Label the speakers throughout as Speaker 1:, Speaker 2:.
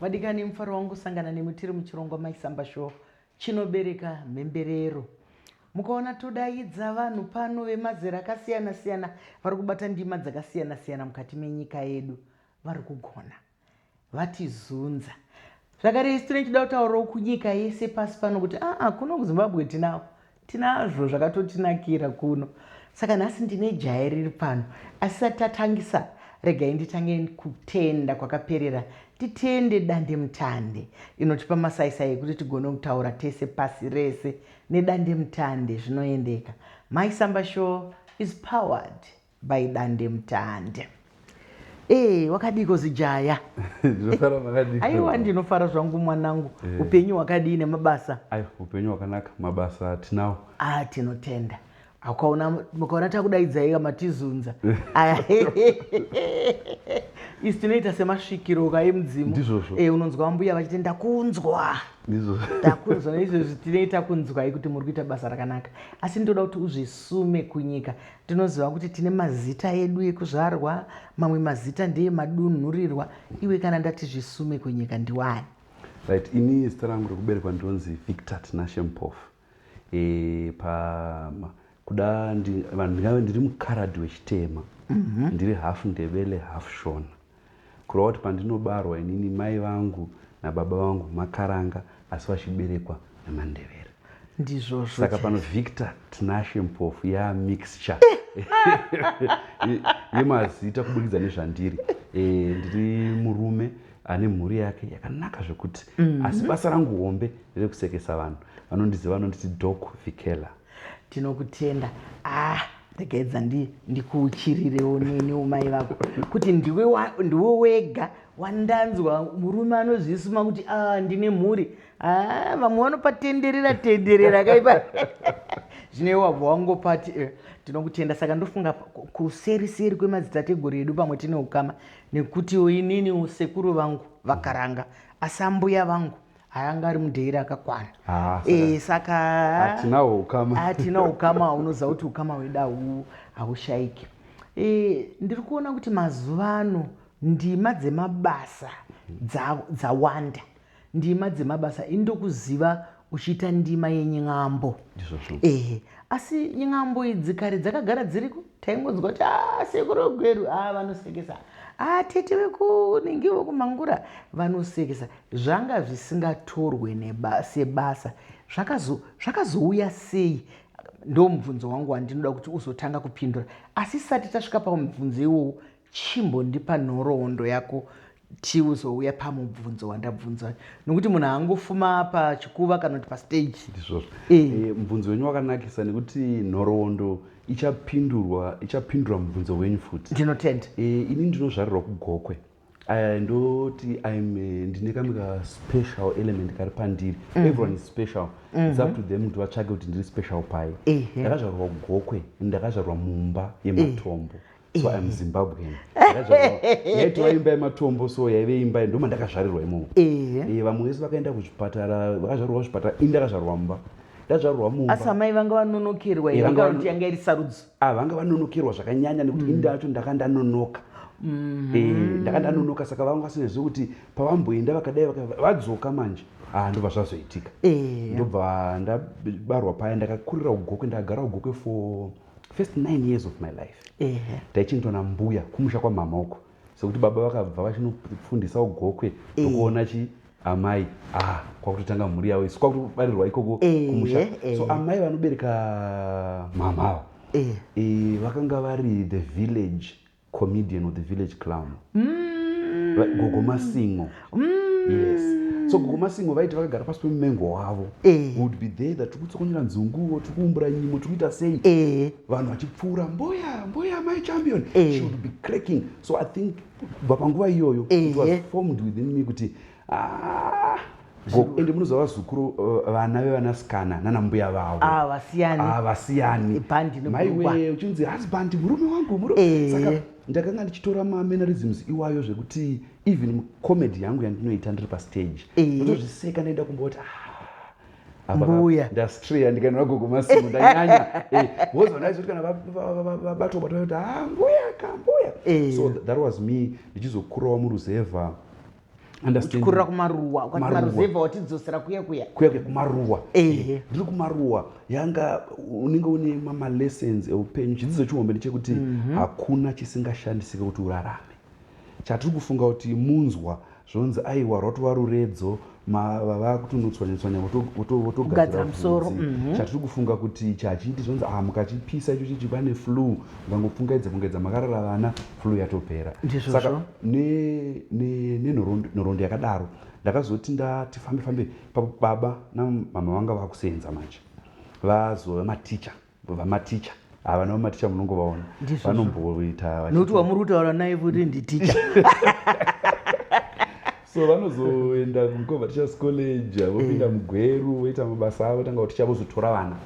Speaker 1: Vadikani mufaro wangu kusangana nemi tiri muchirongwa Mai Samba Show chinobereka mhemberero. Mukaona todaidza vanhu pano vemazera akasiyana siyana vari kubata ndima dzakasiyana siyana mukati menyika yedu vari kugona vatizunza zvakare isu tine chidautauro kunyika yese pasi pano kuti aa kuno kuzimbabwe tinawo Tinazvo zvakatotinakira kuno saka nhasi ndine jaya riri pano asi tisati tatangisa regai nditange kutenda kwakaperera titende dandemutande inotipa masaisai ekuti tigone kutaura tese pasi rese nedandemutande zvinoendeka Mai Samba show is powered By Dandemutande. Hey, eh, wakadiiko zijaya? Ndinofara makadiiko? Aiwa ndinofara zvangu mwanangu. Hey. Eh. Upenyu wakadii nemabasa? Aiwa, upenyu wakanaka,
Speaker 2: mabasa tinawo. Ah, tinotenda.
Speaker 1: Akaona mukaona takudaidzai matizunza. Aya. Isi tinoita semasvikiro kai mudzimu. Ndizvozvo. Eh, unonzwa mbuya vachiti ndakunzwa. Ndizvozvo. Ndakunzwa izvozvo tinoita kunzwai kuti muri kuita basa rakanaka. Asi ndoda kuti uzvisume kunyika. Tinoziva kuti tine mazita edu ekuzvarwa, mamwe mazita ndeemadunhurirwa. Iwe kana ndati Zvisume Kwenyeka ndiwani? Right, ini
Speaker 2: zita rangu rekuberekwa ndinonzi Victor Tinashe Mpofu. E, pa ma, kuda ndi, vanhu ndingave ndiri mukaradhi wechitema. Mm -hmm. Ndiri half Ndebele, half Shona. Kureva kuti pandinobarwa inini mai vangu nababa vangu makaranga asi vachiberekwa nemandevere. Ndizvozvo.
Speaker 1: Saka pano Victor
Speaker 2: Tinashe Mpofu ya mixture yemazita kubudikidza nezvandiri. Eh ndiri murume ane mhuri yake yakanaka zvekuti mm -hmm. asi basa rangu hombe rekusekesa vanhu vanondiziva vanonditi Doc Vikela. tinokutenda
Speaker 1: ah regaedza ndikuuchirirewo neniwo mai vako kuti ndiwe ndiwe wega wandanzwa murume anozvisuma kuti a ah, ndine mhuri a ah, vamwe vanopatenderera tenderera kaipa zvino iwe wabva wangopati eh, tinokutenda saka ndofunga kuseri seri kwemadzitateguru edu pamwe tine ukama nekutiwo inini sekuru vangu vakaranga asi ambuya vangu haanga ari mudheera akakwana ah, eh, saka hatinawo ukama
Speaker 2: hatina ukama unoziva
Speaker 1: kuti ukama hwedu hau haushaiki eh, ndiri kuona kuti mazuva ano ndima dzemabasa dzawanda dza ndima dzemabasa ini ndokuziva uchiita ndima yenyin'ambo ehe asi nyin'ambo idzi kare dzakagara dziriko taingonzwa kuti ah, sekuru gweru a ah, vanosekesa a ah, tete vekunenge vokumangura vanosekesa zvanga zvisingatorwe neba, sebasa zvakazo, zvakazouya sei ndo mubvunzo wangu wandinoda kuti uzotanga kupindura asi sati tasvika pamubvunzo iwowo chimbondipa nhoroondo yako tiuzouya pamubvunzo wandabvunza nokuti munhu haangofuma pachikuva kana kuti pastage ndizvozvo e. e,
Speaker 2: mubvunzo wenyu wakanakisa nekuti nhoroondo ichapindurwa ichapindura mubvunzo wenyu futi ndinotenda e, ini
Speaker 1: ndinozvarirwa
Speaker 2: kugokwe I ndoti I'm eh, ndine kamwe ka special element kari pandiri. Mm -hmm. Everyone is special. Mm -hmm. It's up to them kuti vatsvage kuti ndiri special pai. Ndakazvarwa mm -hmm. Gokwe, ndakazvarwa mumba yematombo. Mm -hmm so eh. im zimbabwean yaitova imba yematombo so yaive imba ndoma ndakazvarirwa imomo eh. eh, vamwe vese vakaenda kuzvipatara vakazvarirwa zvipatara ini ndakazvarirwa mumba ndazvarirwa mumba asi amai vanga
Speaker 1: vanonokerwa yanga iri sarudzo Ah, vanga vanonokerwa
Speaker 2: zvakanyanya nekuti mm. ini ndacho ndaka ndanonoka mm-hmm. eh, ndaka ndanonoka saka vanga vasingazivi kuti pavamboenda vakadai vadzoka manje ah, ndobva zvazoitika eh. ndobva ndabarwa paya ndakakurira ugokwe ndakagara ugokwe for first nine years of my life eh. taichinitwa nambuya kumusha kwamama uko sekuti baba vakabva vachinofundisa ugokwe tokuona chi amai ah, kwakutotanga mhuri yavo isu kwakutobarirwa ikoko eh, kumusha eh, eh. so amai vanobereka mhamha avo eh. eh, vakanga vari the village comedian or the village clown mm. gogo masingo mm. yes so gogo masingo vaiti vakagara pasi pemumengo wavo eh. would be there that tikutsokonyera nzunguo tikuumbura nyimo tikuita sei eh. vanhu vachipfuura mboya mboya mai champion eh. she would be cracking so i think kubva panguva iyoyo formed within me kuti ah, ende munoziva vazukuru uh, vana vevanasikana nana mbuya vavo ah, vasiyani ah, maiwee uchinzi husband murume wangu murume saka ndakanga ndichitora mamenarisms iwayo zvekuti even comedy yangu yandinoita ndiri pastage ndozviseka ndaenda kumboti ah,
Speaker 1: mbuya ndastreya
Speaker 2: ndikaenda vagogo masimu ndanyanya eh, because vandaizoti kana vabatwa batwa kuti ha ah, mbuya ka mbuya eh. so that was me ndichizokurawo muruzevha
Speaker 1: uchikurira kumaruwa ukati maruzevha watidzosera kuya kuya kuya kuya kumaruwa
Speaker 2: ehe ndiri kumaruwa yanga unenge une mamalessons eupenyu chidzidzo chihombe ndechekuti mhm. hakuna chisingashandisike kuti urarame Chatiri kufunga kuti munzwa zvonzi aiwa rwatova ruredzo vavakutonotswanyetswanya votogadzira musoro mhm. chatiri kufunga kuti ichi hachiiti zvonzi ah mukachipisa icho chichi pane flu mukangopfungaidza fungaidza makarara vana flu yatopera saka nenhoroondo yakadaro ndakazoti ndati fambe fambe baba namama vanga vakusenza manje vazova maticha vamaticha ava ah, navo maticha munongovaona vanomboita nokuti wamuri kutaura
Speaker 1: naye kuti nditicha
Speaker 2: so vanozoenda kumkova teachers college vopinda eh. mugweru voita mabasa avo tanga kuticha vozotora vana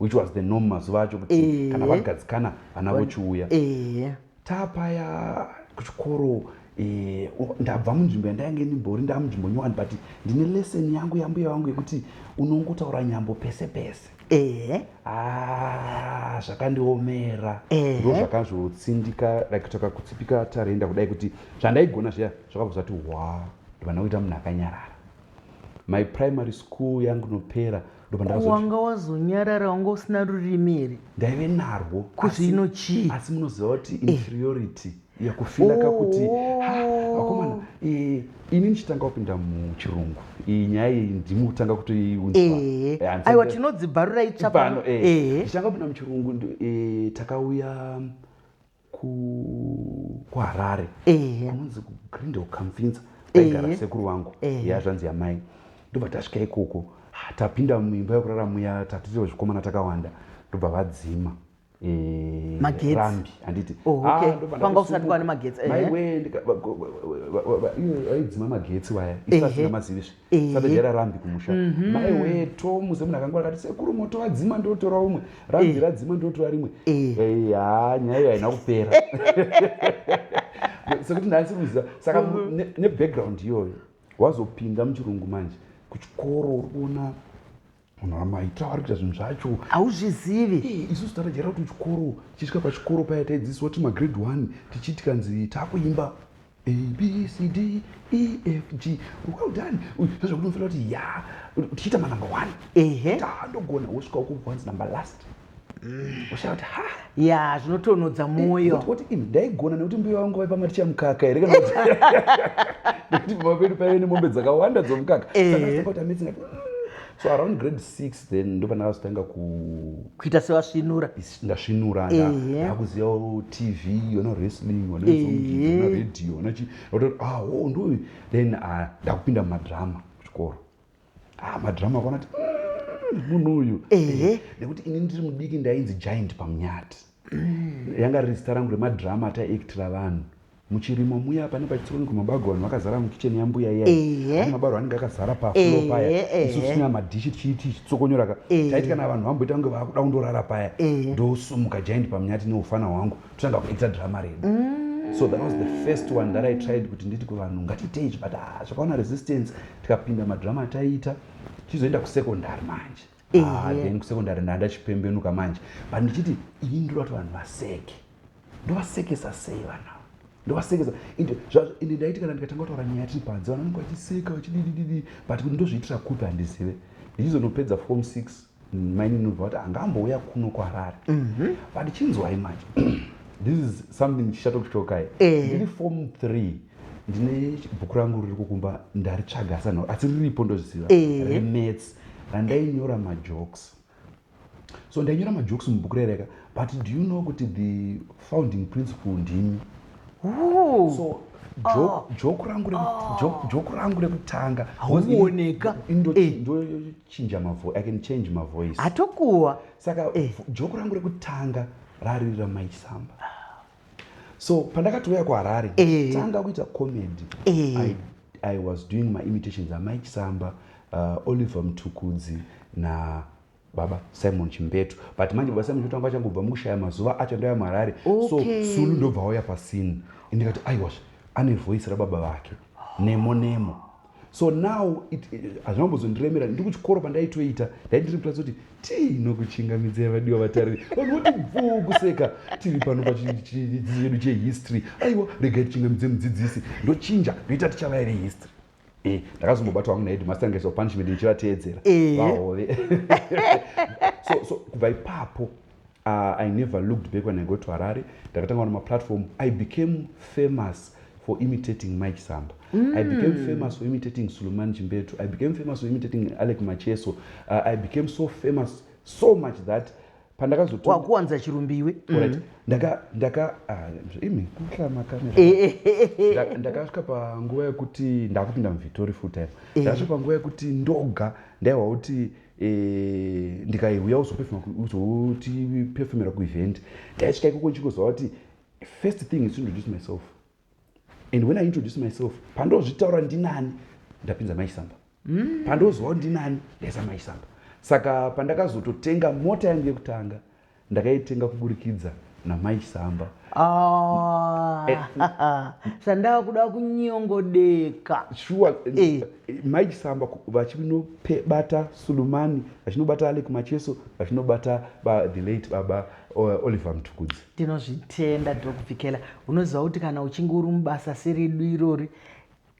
Speaker 2: which was the norm mazuva acho kuti eh. kana vagadzikana vana vochiuya eh. Taapaya kuchikoro eh, ndabva munzvimbo yandainge ndimbori ndaa munzvimbo nyowani but ndine lesson yangu yambuya vangu yekuti unongotaura nyambo pese pese ehe ah, zvakandiomera ndo zvakazvotsindika like kutaka kutsipika tarenda kudai kuti zvandaigona zviya zvakabva zvati wa ndivana kuita munhu akanyarara my primary school yangu nopera wanga
Speaker 1: wazonyarara wanga usina rurimi here ndaive narwo
Speaker 2: kuzvino chii
Speaker 1: asi munoziva kuti eh.
Speaker 2: inferiority eh yakufila kakuti akomana oh. eh, ini ndichitanga kupinda muchirungu iyi nyaya iyi ndimi kutanga kutoiunzwaaiwa eh. tinodzibharura
Speaker 1: itsvapano eh. ndichitanga kupinda
Speaker 2: muchirungu takauya kuharare kunonzi kugrindel kamfinza taigara sekuru vangu ya zvanzi yamai ndobva tasvika ikoko ah, tapinda muimba yekurara muya tatirio zvikomana takawanda ndobva vadzima
Speaker 1: rambi handiti
Speaker 2: panga
Speaker 1: usati kwane magetsi maiwe
Speaker 2: vaidzima magetsi waya isasina mazivi zve satajara rambi kumusha mhm. mai wee to muze munhu akangwara kati sekuru moto wadzima ndotora umwe rambi eh. radzima ndotora rimwe eh. eh, ha nyaya iyo haina kupera sekuti ndasi kuziva saka mhm. nebackground iyoyo wazopinda muchirungu manje kuchikoro uri kuona munhu amaita ari kuita zvinhu zvacho hauzvizivi
Speaker 1: isusu tarajaira kuti
Speaker 2: chikoro tichisvika pachikoro paya taidzidziswa tiri magrade one tichii tikanzi taakuimba abcd efg well done zvezvekuti unofanira kuti ya tichiita manumber one ehe taandogona wosvika ukuvanzi number last ushauti ha ya
Speaker 1: zvinotonhodza mwoyo oti ivi ndaigona
Speaker 2: nekuti mbuya vangu vaipa maticha mukaka here kana kuti nekuti pamba pedu paive nemombe dzakawanda dzomukaka Eh. Saka ndakabata midzi ndikati, "Mm." so around grade six then ndopandakazotanga ku kuita
Speaker 1: sevasvinura is- ndasvinura
Speaker 2: Ehe. ndakuzivawo tv yona wrestling Ehe. wanaizongiona radio wanachi oto ah oh ndoyu then ah, ndakupinda mumadrama kuchikoro ah, madrama akaona ti mm, munhu uyu eh, nekuti ini ndiri mudiki ndainzi giant pamunyati mm. yanga riri zita rangu remadrama ataiaktira vanhu muchirimo muya pane pachitsikoni kumabago vanhu vakazara mukicheni yambuya iya mabaro anenge akazara paflo paya isu tisina madhishi tichiiti chitsokonyoraka taiti kana vanhu vamboita kunge vakuda kundorara paya ndosumuka giant pamunyati neufana hwangu totanga kuita drama redu so that was the first one that i tried kuti nditi kuvanhu ngatiitei but ah, zvakaona resistance tikapinda madrama ataiita tichizoenda kusecondary manje ah, then kusecondary ndandachipembenuka manje but ndichiti ini ndoda kuti vanhu vaseke ndovasekesa sei vanhu ndovasekesa ende ndaiti kana ndikatanga kutaura nyaya tiri panze vanhu vanenge vachiseka vachididididi but kuti ndozviitira kupi handizive ndichizonopedza form six Mainini ndobva vati anga ambouya kuno kuharare but chinzwai manje this is something chichatokutokai Eh. ndiri form three ndine bhuku rangu riri kukumba ndaritsvaga asi hanha- asi riripo ndozviziva Eh. remets randainyora majokes so ndainyora majokes mubhuku rereka but do you know kuti the founding principle ndimi Ooh. so joke- joke rangu reku- joke- joke rangu rekutanga Hauoneka.
Speaker 1: Ndo- Eh. ndo-
Speaker 2: chinja mavoice i can change mavoice hatokuwa saka
Speaker 1: eh.
Speaker 2: joko rangu rekutanga rariri ramaisamba so pandakatouya kuharare eh. tanga kuita comedy eh. I, i was doing my imitations amai chisamba uh, oliver mtukudzi na baba simon chimbetu but manje baba simon chimbetu anga achangobva mukushaya mazuva acho ndaya muharare okay. so sulu ndobva auya pasini ndikati aiwasha ane voice rababa vake nemo nemo so now hazvina kumbozondiremera ndiri kuchikoro pandaitoita ndaindiri mutadzi kuti tinokuchingamidzai vadiwa vatariri vanhu voti bvuu kuseka tiri pano pachidzidzo chedu chehistory aiwa regai tichingamidze mudzidzisi ndochinja ndoita tichavaya vehistory eh, ndakazombobatwa hangu naheadmaster ngaisapunishment ndichivateedzera eh. vahove so kubva ipapo Uh, I never looked back when I got to Harare. Ndakatanga on my platform. I became famous for imitating Mike Samba. Mm. I became mm. famous for imitating Suleiman Chimbetu. I became famous for imitating Alec Macheso. Uh, I became so famous so much that pandakazowakuwanza
Speaker 1: chirumbiwe right. mm. ndaka ndaka ah, imi kuhla
Speaker 2: makamera eh, eh, eh, ndakasvika panguva yekuti ndakupinda muvhitori full time ndakasvika panguva yekuti ndoga ndaiwa kuti Eh, ndikaiuya uzotipefumira kuevent ndaisvika ikoko ndichingozva kuti first thing is introduce myself and when i introduce myself pandozvitaura ndinani ndapinza maisamba mm. pandoziva kuti ndinani ndaisa maisamba saka pandakazototenga mota yangu yekutanga Ndakaitenga kuburikidza namai Chisamba. Ah, eh,
Speaker 1: sandava kuda kunyongodeka. Shuwa,
Speaker 2: eh. mai Chisamba vachinobata Sulumani, vachinobata Alec Macheso, vachinobata the late baba uh, Oliver Mtukudzi. Tinozvitenda
Speaker 1: Doc Vikela. Unoziva kuti kana uchinge uri mubasa seredu irori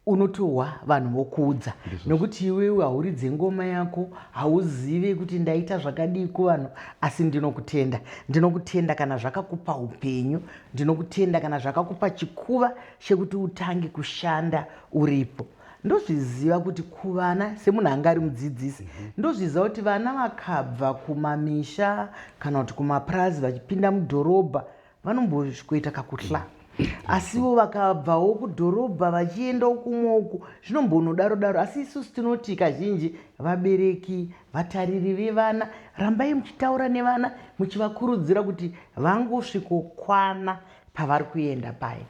Speaker 1: unotohwa vanhu vokuudza nokuti iwewe hauridze ngoma yako hauzive kuti ndaita zvakadii kuvanhu asi ndinokutenda ndinokutenda kana zvakakupa upenyu ndinokutenda kana zvakakupa chikuva chekuti utange kushanda uripo ndozviziva kuti kuvana semunhu anga ari mudzidzisi mhm. ndozviziva kuti vana vakabva kumamisha kana kuti kumapurazi vachipinda mudhorobha vanombosvikoita kakuhla asiwo vakabvawo kudhorobha vachienda ukumwe uku zvinombonodaro daro asi isusu tinoti kazhinji vabereki vatariri vevana rambai muchitaura nevana muchivakurudzira kuti vangosvikokwana pavari kuenda paye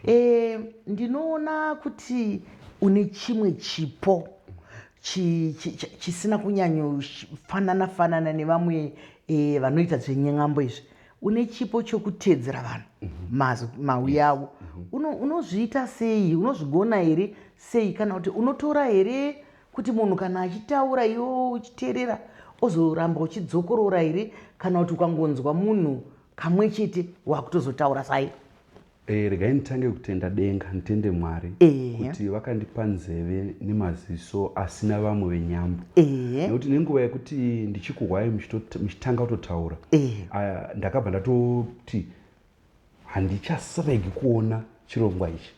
Speaker 1: e, ndinoona kuti une chimwe chipo chisina kunyanyofanana fanana nevamwe e, vanoita zvenyen'ambo izvi une chipo chokuteedzera vanhu mhm. mauyi avo mhm. unozviita sei unozvigona here sei kana kuti unotora here kuti munhu kana achitaura iwo uchiteerera ozoramba uchidzokorora here kana kuti ukangonzwa munhu kamwe chete wakutozotaura sai Eh, regai
Speaker 2: nditange kutenda denga nditende mwari Ehe. kuti vakandipa nzeve nemaziso asina vamwe venyambo Ehe. nekuti nenguva yekuti ndichikuhwai muchito- muchitanga kutotaura Ehe. ah, ndakabva ndatoti handichasiregi kuona chirongwa ichi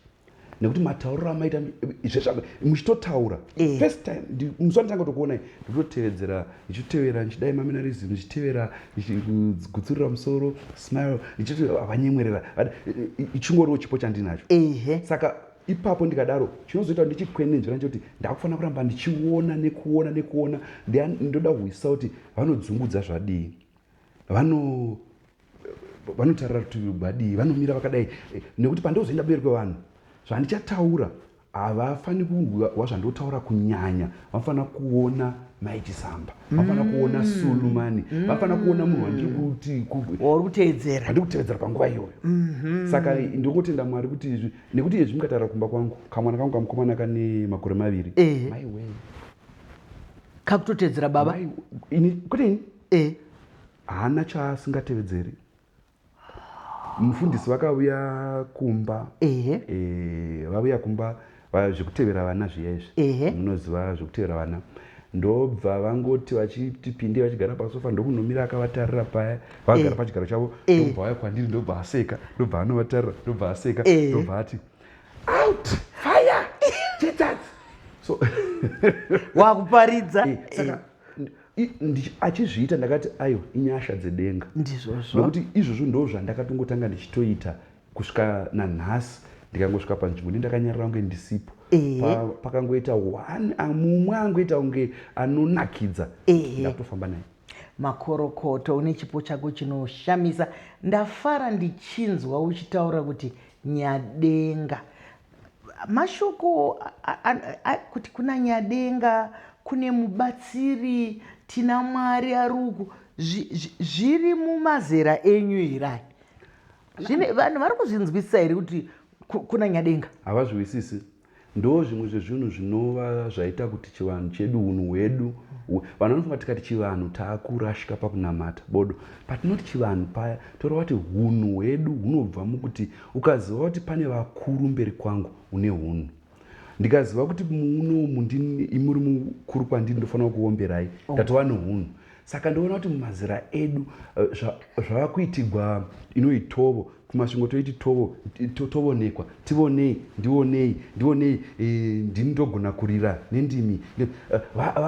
Speaker 2: nekuti matauriro amaita mi- izvezvi apa muchitotaura Ehe. first time ndi- musi wanditanga kutokuonai ndikutotevedzera ndichitevera ndichidai maminarism ndichitevera ndichigutsurira musoro smile ndichiti havanyemwerera ichingoriwo chipo chandinacho ehe saka ipapo ndikadaro chinozoita kuti ndichikwenenzvera ndechekuti ndakufanira kuramba ndichiona nekuona nekuona ndoda kuhwisisa kuti vanodzungudza zvadii vano vanotarira rutivi rwadii vanomira vakadai eh, nekuti pandozoenda mberi kwevanhu zvandichataura havafaniri kuhwa zvandotaura kunyanya vanofanira kuona mai chisamba vanofanira kuona mm. sulumani mm. vanofanira kuona munhu wandikuteedzeraandiri kuteedzera panguva iyoyo mm-hmm. saka ndikungotenda mwari kuti izvi nekuti izvi mukataura kumba kwangu kamwana kangu kamukomana kane makore maviri eh. mai wee kakutoteedzera
Speaker 1: baba kwete ini
Speaker 2: eh. haana chaasingatevedzeri mufundisi vakavuya kumba ehe eh, vavuya kumba va- zvekutevera vana zviya izvi Ehe. munoziva zvekutevera vana ndobva vangoti vachiti pinde vachigara pasofa ndokunomira akavatarira paya vagara Eh. pachigaro chavo Eh. ndobva vaya kwandiri ndobva aseka ndobva anovatarira ndobva aseka Eh. ndobva ati out fire chitsatsi so wakuparidza
Speaker 1: Eh, saka n-
Speaker 2: achizviita ndakati ayo inyasha dzedenga ndizvozvo nokuti
Speaker 1: izvozvo ndo
Speaker 2: zvandakatongotanga ndichitoita kusvika nanhasi ndikangosvika panzvimbo ndi ndakanyarira kunge ndisipo pakangoita one mumwe angoita kunge anonakidza ndakutofamba naye makorokoto
Speaker 1: une chipo chako chinoshamisa ndafara ndichinzwa uchitaura kuti nyadenga Mashoko kuti kuna Nyadenga kune mubatsiri tina Mwari aruku zviri mumazera enyu hirai zvine vanhu vari kuzvinzwisisa here kuti kuna Nyadenga havazviwisisi
Speaker 2: ndo zvimwe zvezvinhu zvinova zvaita kuti chivanhu chedu unhu hwedu vanhu vanofunga tikati chivanhu taakurashika pakunamata bodo patinoti chivanhu paya toreva kuti hunhu hwedu hunobva mukuti Ukaziva kuti pane vakuru mberi kwangu une hunhu ndikaziva kuti muunomu imuri mukuru kwandiri ndofanira kuomberai oh. ndatova oh. nohunhu saka ndoona kuti mumazira edu eh, zvava kuitigwa inoitovo kumasvingo toiti tovo tovonekwa tivonei ndionei ndionei e, ndini ndogona kurira nendimi eh,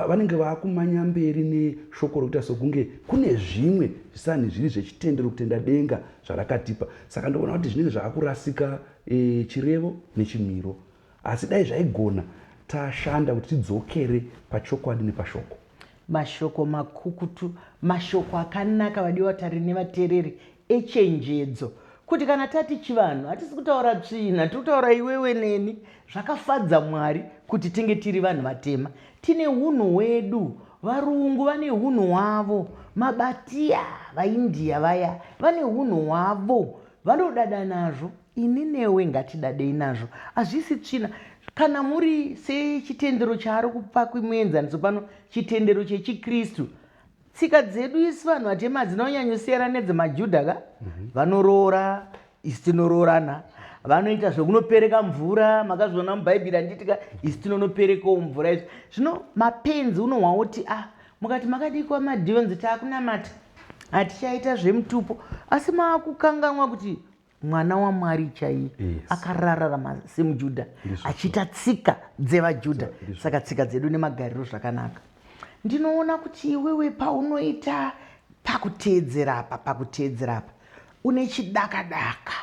Speaker 2: vanenge va, va, vakumanya mberi neshoko rokuita sokunge kune zvimwe zvisanhi zviri zvechitendero kutenda denga zvarakatipa saka ndoona kuti zvinenge zvaakurasika e, chirevo nechimiro asi dai zvaigona tashanda kuti tidzokere pachokwadi nepashoko mashoko
Speaker 1: makukutu mashoko akanaka vadiwa vatari nevateereri echenjedzo kuti kana tati chivanhu hatisi kutaura tsvina tiri kutaura iwewe neni zvakafadza mwari kuti tinge tiri vanhu vatema Tine hunhu hwedu, varungu vane hunhu hwavo, maBhatia, vaIndia vaya, vane hunhu hwavo. Vanodada nazvo, ini newe ngatidadei nazvo. Hazvisi tsvina. Kana muri sechitendero chaari kupa kumuenzaniso pano, chitendero chechiKristu, Tsika dzedu isu vanhu vatema dzinonyanyosiyana nedzemaJuda ka? Mhm. Vanoroora, isu tinoroorana vanoita zvekunopereka mvura makazviona mubhaibheri anditika isi tinonoperekawo mvura izvi zvino mapenzi unohwa woti a ah, mukati makadikwa madhionzi taakunamata hatichaita zvemutupo asi maakukanganwa kuti mwana wamwari chaiye akarararama semujudha achiita tsika dzevajudha saka tsika dzedu nemagariro zvakanaka ndinoona kuti iwewe paunoita pakuteedzera apa pakuteedzera apa une chidakadaka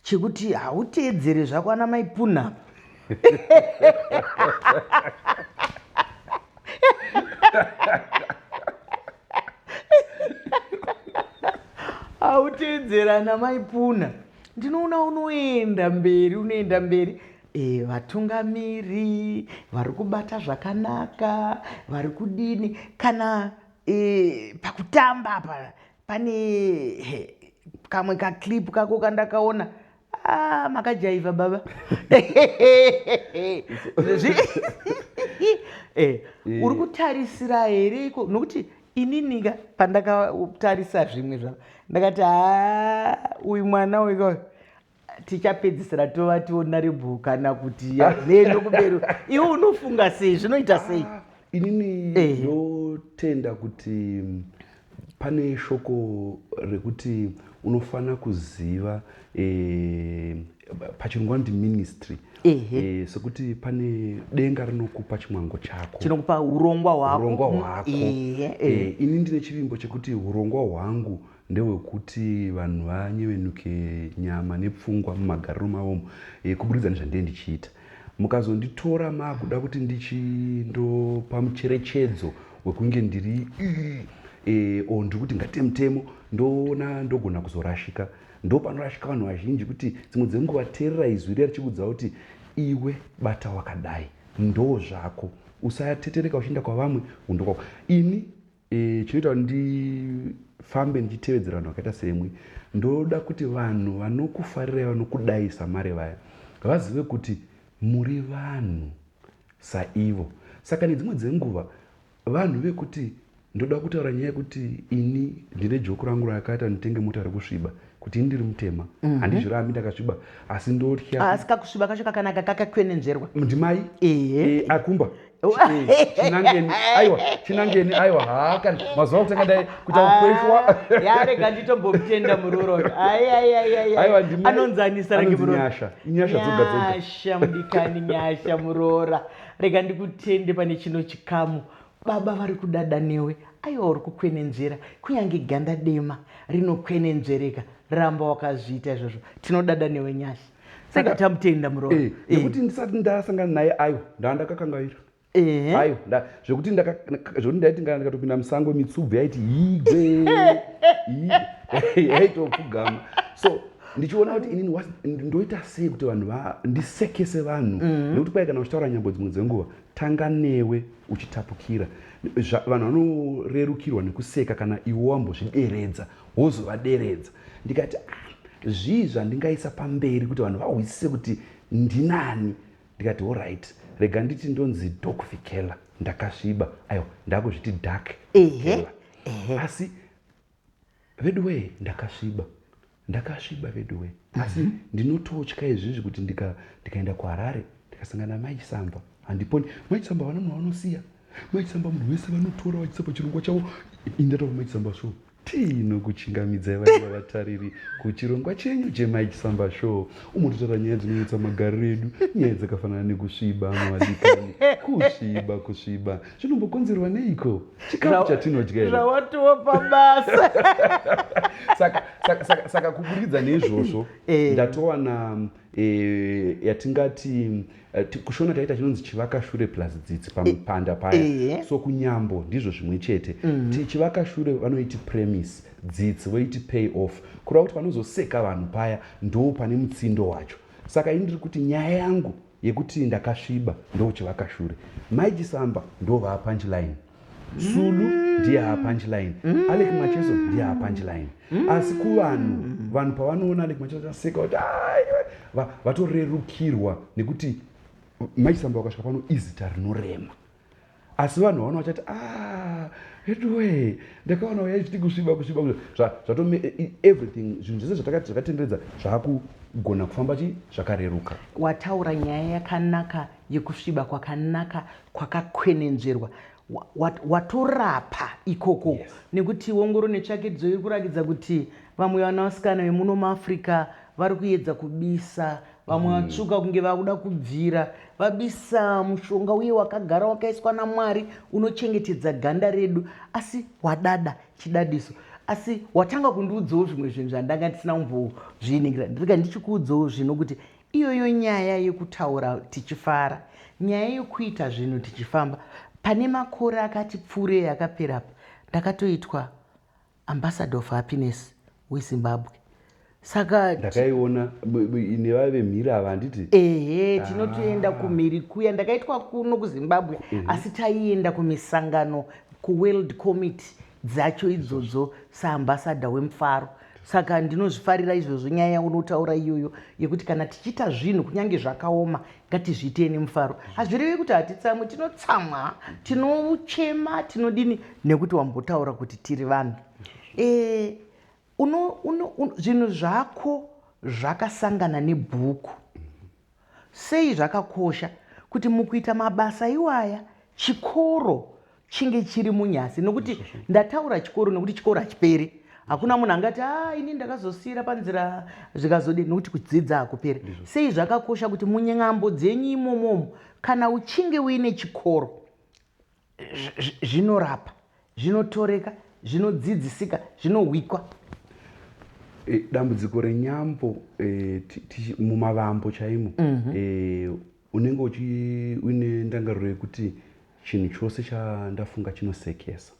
Speaker 1: chekuti hauteedzere zvako ana maipuna apa autedzera ana maipuna ndinoona unoenda mberi unoenda mberi e, vatungamiri vari kubata zvakanaka vari kudini kana e, pakutamba apa pane kamwe kaclip kako kandakaona Ah, makajaiva baba eh, uri kutarisira here iko nokuti ininika pandakatarisa zvimwe zvavo ndakati ha uyu mwana uyu tichapedzisira tova tiona rebhu kana kuti neno kubero iwe unofunga sei zvinoita sei ah, inini
Speaker 2: ndotenda kuti Pane shoko rekuti unofanira kuziva eh, pachirungu vanoti ministry Ehe. eh, sekuti pane denga rinokupa chimwango chako chinokupa urongwa
Speaker 1: hwako urongwa Mm, hwako ehe, ehe. Eh,
Speaker 2: ini ndine chivimbo chekuti urongwa hwangu ndehwekuti vanhu vanyevenuke nyama nepfungwa mumagariro mavomo eh, kuburikidza nezvandee ndichiita mukazonditora makuda kuti ndichindopa mucherechedzo wekunge ndiri e, o ndiri kuti ngaite mutemo ndoona ndogona kuzorashika ndopanorashika vanhu vazhinji kuti dzimwe dzenguva terera izwi riya richikudza kuti iwe bata wakadai ndo zvako usatetereka uchienda kwavamwe undokwako ini e, chinoita kuti ndifambe ndichitevedzera vanhu vakaita semwi ndoda kuti vanhu vanokufarirai vanokudai samari vaya vazive kuti muri vanhu saivo saka nedzimwe dzenguva vanhu vekuti ndoda kutaura nyaya yekuti ini ndine joku rangu rakakaita nditenge mota rekusviba kuti ini ndiri mutema mhm. handizvirambi mm -hmm. ndakasviba asi ndotya ah, asi kakusviba kacho
Speaker 1: kakanaka kakakwenenzverwa ndimai
Speaker 2: ehe eh, akumba chinangeni aiwa chinangeni aiwa haa kana mazuva kutanga dai kuita ah, kukweshwa yarega
Speaker 1: nditombomutenda muroro anonzanisa range muroranyasha dzogaasha mudikani nyasha muroora rega ndikutende pane chino chikamu baba vari kudada newe aiwa uri kukwenenzvera kunyange ganda dema rinokwenenzvereka ramba wakazviita izvozvo tinodada newe nyasha saka tamutenda muroora eh, eh. nekuti ndisati
Speaker 2: ndasangana naye ayo ndandakakangaira eh. ayo zvekuti zvekuti ndaiti kana ndikatopinda musango mitsubvu yaiti yigwe yaitopfugama so ndichiona kuti inini ndoita sei kuti vanhu ndisekese vanhu mm-hmm. nekuti kwai kana uchitaura nyambo dzimwe dzenguva tanga newe uchitapukira vanhu vanorerukirwa nekuseka kana iwo wambozvideredza wozovaderedza ndikati ah, zvii zvandingaisa pamberi kuti vanhu vahwisise kuti ndinani ndikati orit rega nditi ndonzi dokvikela ndakasviba aiwa ndakuzviti dak kela asi veduwee ndakasviba ndakasviba veduwee asi mhm. ndinototya izvizvi kuti ndikaenda kuharare ndikasangana mai chisamba handiponi mai chisamba vana munhu vanosiya mai chisamba munhu wese vanotora vachisa pachirongwa chavo indataura mai chisamba sure Tinokuchingamidzai vaiva vatariri kuchirongwa chenyu chemai chisamba show umo totaura nyaya dzinonyetsa magariro edu nyaya dzakafanana nekusviba mavadikani kusviba kusviba zvinombokonzerwa neiko chikafu chatinodya here zvawatiwo
Speaker 1: pabasa saka, saka,
Speaker 2: saka, saka kuburikidza neizvozvo Eh. ndatowana e, yatingati e, kushona taita chinonzi chivakashure plus dzitsi pamupanda e, paya e, e. so kunyambo ndizvo zvimwe chete mm. chivakashure vanoiti premise dzitsi voiti pay off kureva kuti panozoseka vanhu paya ndoo pane mutsindo wacho saka ini ndiri kuti nyaya yangu yekuti ndakasviba ndochivakashure maichisamba ndovaa punchline sulu ndiye haa punchline alek macheso ndiye haa punchline asi kuvanhu vanhu pavanoona alek macheso vaseka kuti vatorerukirwa nekuti maisamba wakasvika pano izita rinorema asi vanhu vaona vachati ah, etuwe ndakaona uya ichiti kusviba kusviba zvatome e, e, everything zvinhu zvese zvatakati zvakatenderedza zvaakugona kufamba chi zvakareruka wataura nyaya
Speaker 1: yakanaka yekusviba kwakanaka kwakakwenenzverwa watorapa ikoko yes. nekuti wongoro netsvakidzo iri kurakidza kuti vamwe vana vasikana vemuno muafrica vari kuyedza kubisa vamwe mm. vatsvuka mm. kunge vakuda kubvira vabisa mushonga uye wakagara wakaiswa namwari unochengetedza ganda redu asi wadada chidadiso asi watanga kundiudzawo zvimwe zvinhu zvandanga ndisina kumbozviningira ndiriga ndichikuudzawo zvino kuti Iyoyo nyaya yekutaura tichifara, nyaya yekuita zvinhu tichifamba. Pane makore akati pfuurei akapera apa ndakatoitwa ambassador of happiness weZimbabwe saka ndakaiona
Speaker 2: nevaive mhiri ava handiti ehe tinotoenda
Speaker 1: ah. kumhiri kuya ndakaitwa kuno kuzimbabwe asi taienda kumisangano kuworld committee dzacho idzodzo saambassador wemufaro saka ndinozvifarira izvozvo nyaya yaunotaura iyoyo yekuti kana tichiita zvinhu kunyange zvakaoma ngatizviitei nemufaro hazvireve kuti hatitsamwe tinotsamwa tinochema tinodini nekuti wambotaura kuti tiri vanhu e, uno, uno, uno, zvinhu zvako zvakasangana nebhuku Sei zvakakosha kuti mukuita mabasa iwaya chikoro chinge chiri munyasi nokuti ndataura chikoro nokuti chikoro hachiperi hakuna munhu angati a ah, ini ndakazosiira panzira zvikazodii nokuti kudzidza hakuperi sei zvakakosha kuti munyambo dzenyu imomomo kana uchinge uine chikoro zvinorapa zvinotoreka zvinodzidzisika zvinohwikwa eh,
Speaker 2: dambudziko renyambo eh, mumavambo chaimo mhm. eh, unenge uine ndangariro yekuti chinhu chose chandafunga chinosekesa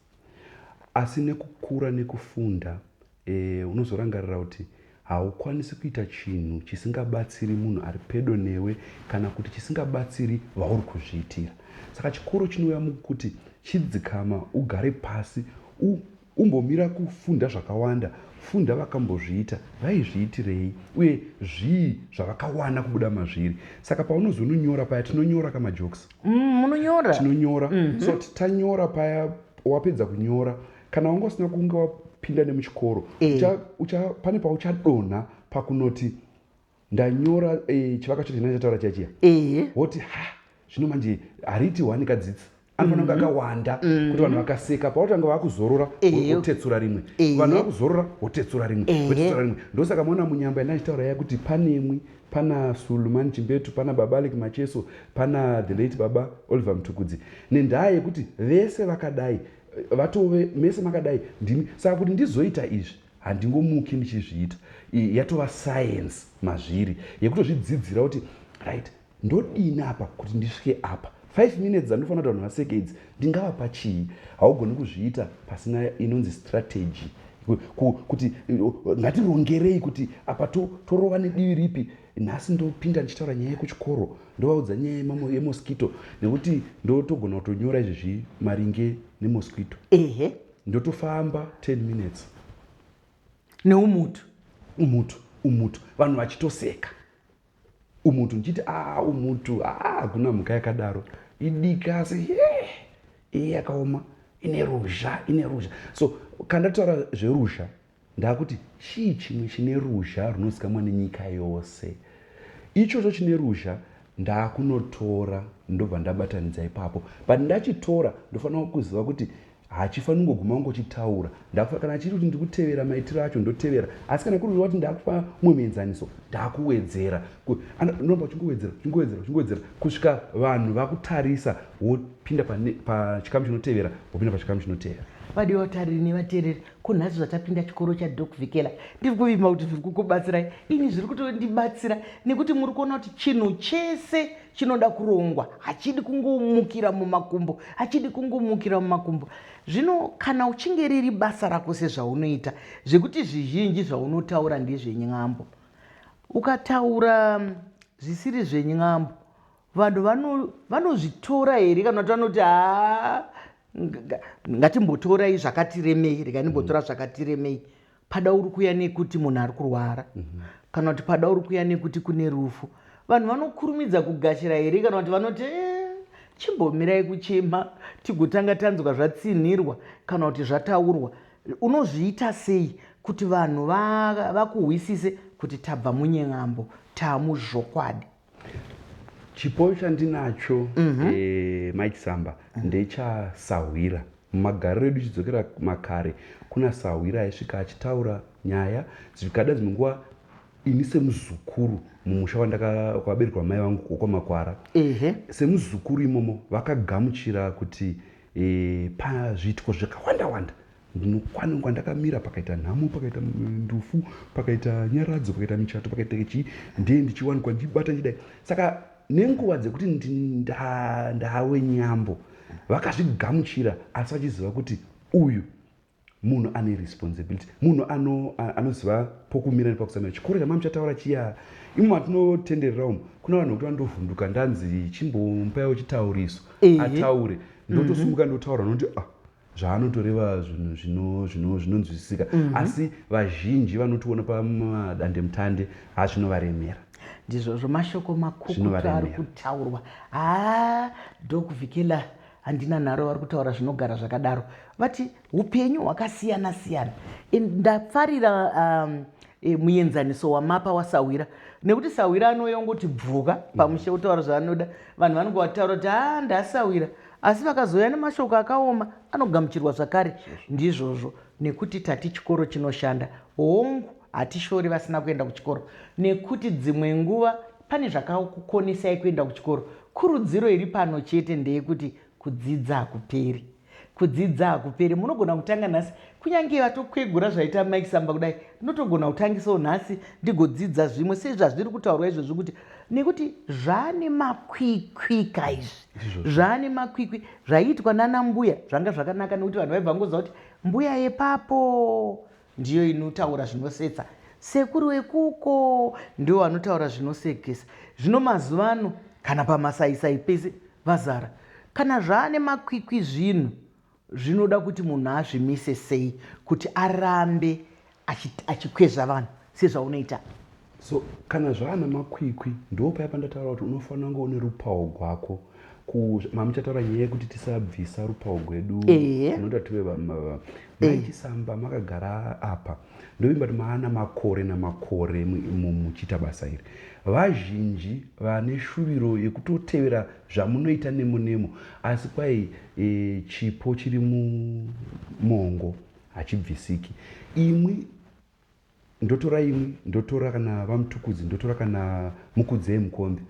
Speaker 2: asi nekukura nekufunda E, unozorangarira kuti haukwanisi kuita chinhu chisingabatsiri munhu ari pedo newe kana kuti chisingabatsiri vauri kuzviitira. Saka chikoro chinouya mukuti chidzikama, ugare pasi, u, umbomira kufunda zvakawanda, funda vakambozviita, vaizviitirei, uye zvii zvavakawana kubuda mazviri. Saka paunozononyora paya, tinonyora ka majokes? Mm, munonyora?
Speaker 1: Tinonyora. Mm -hmm.
Speaker 2: So tanyora paya, wapedza kunyora, kana wanga usina kunge wapinda nemuchikoro eh. ucha, ucha, pane pauchadonha pakunoti ndanyora eh, chivaka chacho chinaa chataura chachiya eh. woti ha zvino manje hariti wani kadzidzi anofanira kunge mhm. akawanda mhm. kuti vanhu vakaseka pautanga vakuzorora wotetsura rimwe vanhu vakuzorora wotetsura rimwe wotetsura rimwe ndosaka maona munyamba ina achitaura ya kuti panemwi pana sulumani chimbetu pana baba alek macheso pana the late baba oliver mtukudzi nendaa yekuti vese vakadai vatove mese makadai ndimi saka kuti ndizoita izvi handingomuki ndichizviita yatova science mazviri yekutozvidzidzira kuti right ndodini apa kuti ndisvike apa five minutes dzandofanira kuti vanhu vaseke idzi ndingava pachii haugoni kuzviita pasina inonzi strategy kuti ngatirongerei kuti apa torova nedivi ripi Nhasi ndopinda ndichitaura nyaya yekuchikoro ndovaudza nyaya yemamo yemosquito nekuti ndotogona kutonyora izvezvi maringe nemosquito. Ehe. Ndotofamba 10 minutes.
Speaker 1: Neumutu. Umutu,
Speaker 2: umutu. Vanhu vachitoseka. Umutu ndichiti ah umutu ah hakuna mhuka yakadaro. Idiki asi yeah. Iye yakaoma ine ruzha, ine ruzha. So kandataura zveruzha Ndakuti chii chimwe chine ruzha runozikamwa nenyika yose? Ichocho chine ruzha ndakunotora ndobva ndabatanidza ipapo but ndachitora ndofanira kuziva kuti hachifani kungoguma kungochitaura ndakufa kana chiri kuti ndikutevera maitiro acho ndotevera asi kana kuri kuti ndakupa umwe muenzaniso ndakuwedzera unoramba uchingowedzera uchingowedzera uchingowedzera kusvika vanhu vakutarisa wopinda pachikamu chinotevera wopinda pachikamu chinotevera vadiwa vatariri
Speaker 1: nevateereri Ko nhasi zvatapinda chikoro chaDoc Vikela ndiri kuvima kuti zviri kukubatsirai ini zviri kutondibatsira nekuti muri kuona kuti chinhu chese chinoda kurongwa hachidi kungomukira mumakumbo hachidi kungomukira mumakumbo zvino kana uchinge riri basa rako sezvaunoita zvekuti zvizhinji zvaunotaura ndezvenyambo ukataura zvisiri zvenyambo vanhu vanozvitora here kana kuti vanoti haa ngatimbotorai zvakatiremei rega ndimbotora mm. zvakatiremei pada uri kuya nekuti munhu ari kurwara mhm. kana kuti pada uri kuya nekuti kune rufu vanhu vanokurumidza kugashira here kana kuti vanoti eh, chimbomirai kuchema tigotanga tanzwa zvatsinhirwa kana kuti zvataurwa unozviita sei kuti vanhu vakuhwisise kuti tabva munyen'ambo taamuzvokwadi
Speaker 2: chipo chandinacho mhm. eh, mike samba mhm. ndechasahwira mumagariro edu chidzokera makare kuna sahwira aisvika achitaura nyaya zvikada dzimwe nguva ini semuzukuru mumusha wandakwaberwa mai vangu wokwamakwara semuzukuru imomo vakagamuchira kuti e, pazviitiko zvakawanda wanda Ndinokwanwa kwandakamira pakaita nhamo, pakaita ndufu, pakaita nyaradzo, pakaita michato, pakaita chii, ndiye ndichiwanikwa ndibata ndidai. Saka nenguva dzekuti ndawe nyambo vakazvigamuchira asi vachiziva kuti uyu munhu ane responsibility munhu anoziva ano pokumira nepakusamira chikoro chama muchataura chiya imo matinotenderera umu kuna vanhu vekuti vandovhunduka ndanzi chimbompaiwo chitauriso ataure ndotosumuka ndotaura nonti ah zvaanotoreva zvinhu zvinonzwisisika mm -hmm. asi vazhinji vanotiona pamadandemutande ha zvinovaremera ndizvozvo
Speaker 1: mashoko makukutu ari kutaurwa haa dokuvhikela handina nharo vari kutaura zvinogara zvakadaro vati upenyu hwakasiyana siyana ndafarira um, e, muenzaniso wamapa wasahwira nekuti sahwira anouya ongoti bvuka pamushe otaura zvaanoda vanhu vanonge vataura kuti haa ndasahwira Asi vakazouya nemashoko akaoma anogamuchirwa zvakare. Ndizvozvo, nekuti tati chikoro chinoshanda. Hongu, hatishori vasina kuenda kuchikoro, nekuti dzimwe nguva pane zvakakukonesai kuenda kuchikoro. Kurudziro iri pano chete ndeyekuti kudzidza hakuperi. Kudzidza hakuperi. Munogona kutanga nhasi. Kunyange vatokwegura zvaita Mike Samba kudai, ndinotogona kutangisawo nhasi ndigodzidza zvimwe sezvazviri kutaurwa izvozvi kuti nekuti zvaane makwikwi ka izvi. zvaane makwikwi zvaiitwa nana mbuya zvanga zvakanaka nekuti vanhu vaibva ngoziva kuti mbuya yepapo ndiyo inotaura zvinosetsa sekuru wekuko ndiwo vanotaura zvinosekesa zvino mazuva ano kana pamasaisai pese vazara kana zvaane makwikwi zvinhu Zvinoda kuti munhu azvimise sei kuti arambe achikwezva vanhu sezvaunoita? So
Speaker 2: kana zvaana makwikwi ndopaya pandataura kuti unofanira kunge une rupawo gwako mamuchataura nyaya yekuti tisabvisa rupawo gwedu anoda tive vamava maichisamba makagara apa ndovimba kuti maana makore namakore muchiita basa iri vazhinji vane shuviro yekutotevera zvamunoita nemo nemo asi kwai e, chipo chiri mumongo hachibvisiki imwi ndotora imwi ndotora kana vamutukudzi ndotora kana mukudzei mukombe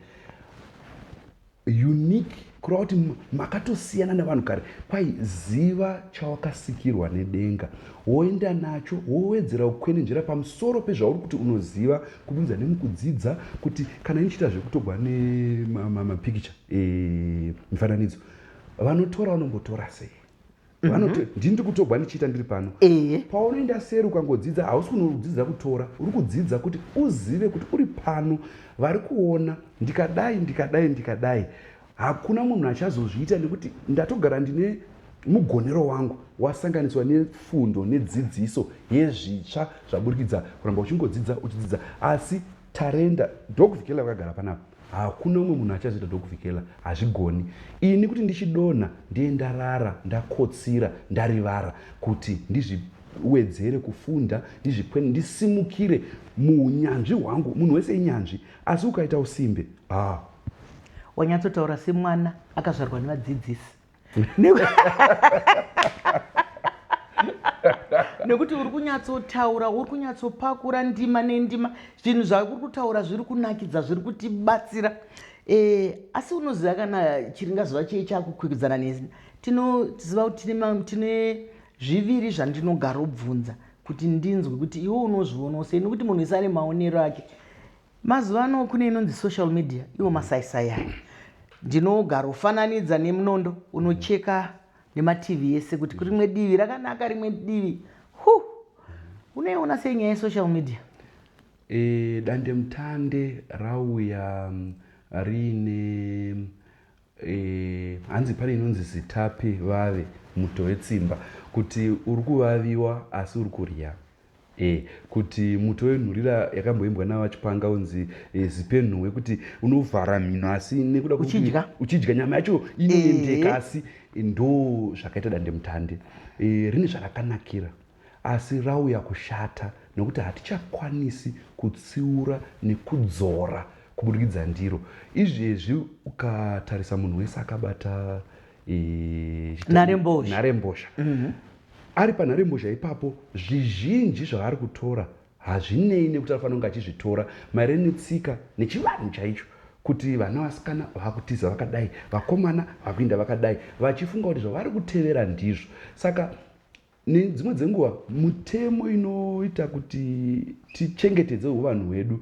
Speaker 2: Unique kureva kuti makatosiyana nevanhu kare kwai ziva chawakasikirwa nedenga woenda nacho wowedzera kukwenenzvera pamusoro pezvauri kuti unoziva kubudikidza nemukudzidza kuti kana inichiita zvekutogwa nemapikicha eh, mifananidzo vanotora vanombotora sei vanoti mm -hmm. ndini ndiri kutogwa ndichiita ndiri pano e. paunoenda seri ukangodzidza hausi kunodzidzira kutora uri kudzidza kuti uzive kuti uri pano vari kuona ndikadai ndikadai ndikadai hakuna munhu achazozviita nekuti ndatogara ndine mugonero wangu wasanganiswa nefundo nedzidziso yezvitsva zvaburikidza kuramba uchingodzidza uchidzidza asi Tarenda Doc Vikela vakagara panapa hakuna umwe munhu achazoita Doc Vikela hazvigoni ini kuti ndichidonha ndiye ndarara ndakotsira ndarivara kuti ndizvi wedzere kufunda ndizvikwene ndisimukire muunyanzvi hwangu munhu wese inyanzvi asi ukaita usimbe ah.
Speaker 1: wanyatsotaura semwana akazvarwa nevadzidzisi nekuti uri kunyatsotaura uri kunyatsopakura ndima nendima zvinhu zvauri kutaura zviri kunakidza zviri kutibatsira e, asi unoziva kana chiringazuva chee chakukwikwidzana neni tinoziva kuti tine zviviri zvandinogarobvunza kuti ndinzwe kuti iwe unozvionawo sei nekuti munhu isane maonero ake Mazuva ano kune inonzi social media iwo masaisai aya ndinogarofananidza nemunondo unocheka nemativi yese kuti kurimwe divi rakanaka rimwe divi hu unoiona sei nyaya yesocial media e, eh,
Speaker 2: dandemutande rauya mm, riine E, hanzi pane inonzi zitapi vave muto wetsimba kuti uri kuvaviwa asi uri kurya e, kuti muto wenhurira yakamboimbwa navachipanga unzi e, zipenhuwe kuti unovhara mhino asi nekuda uchidya uchidya nyama yacho inoendeka e. asi ndo zvakaita dandemutande e, rine zvarakanakira Asi rauya kushata nekuti hatichakwanisi kutsiura nekudzora kuburikidza ndiro. Izvezvi ukatarisa munhu wese akabata e, nharembozha, nharembozha. Mm -hmm. ari panharembozha ipapo zvizhinji zvaari kutora hazvinei nekuti anofanira kunge achizvitora maire netsika nechivanhu chaicho kuti vana vasikana vakutiza vakadai vakomana vakuinda vakadai vachifunga kuti zvavari kutevera ndizvo saka Nedzimwe dzenguva mutemo inoita kuti tichengetedze uvanhu hwedu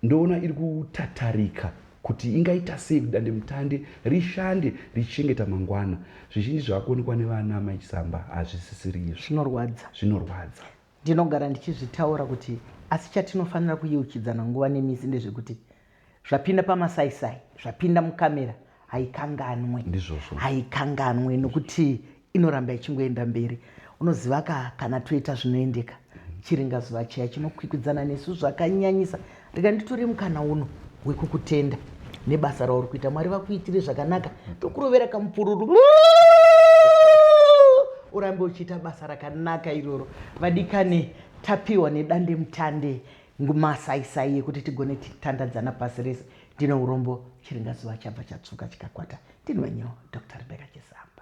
Speaker 2: ndoona iri kutatarika kuti ingaita sei kuti dandemutande rishande richichengeta mangwana zvizhinji zvaakuonekwa nevana amai chisamba hazvisisiri izvo zvinorwadza zvinorwadza ndinogara
Speaker 1: ndichizvitaura kuti asi chatinofanira kuyeuchidzana nguva nemisi ndezvekuti zvapinda pamasaisai zvapinda mukamera haikanganwe ndizvozvo haikanganwe nokuti inoramba ichingoenda mberi unoziva ka kana toita zvinoendeka chiringa zuva chiya chinokwikwidzana nesu zvakanyanyisa rega nditore mukana uno wekukutenda nebasa rauri kuita mwari vakuitire zvakanaka tokurovera kamupururu urambe uchiita basa rakanaka iroro vadikane tapiwa nedande mutande Ngumasaisai yekuti tigone tichitandadzana pasi rese ndine urombo chiringazuva chabva chatsvuka chikakwata ndini wenyu Doctor Rebecca Chisamba.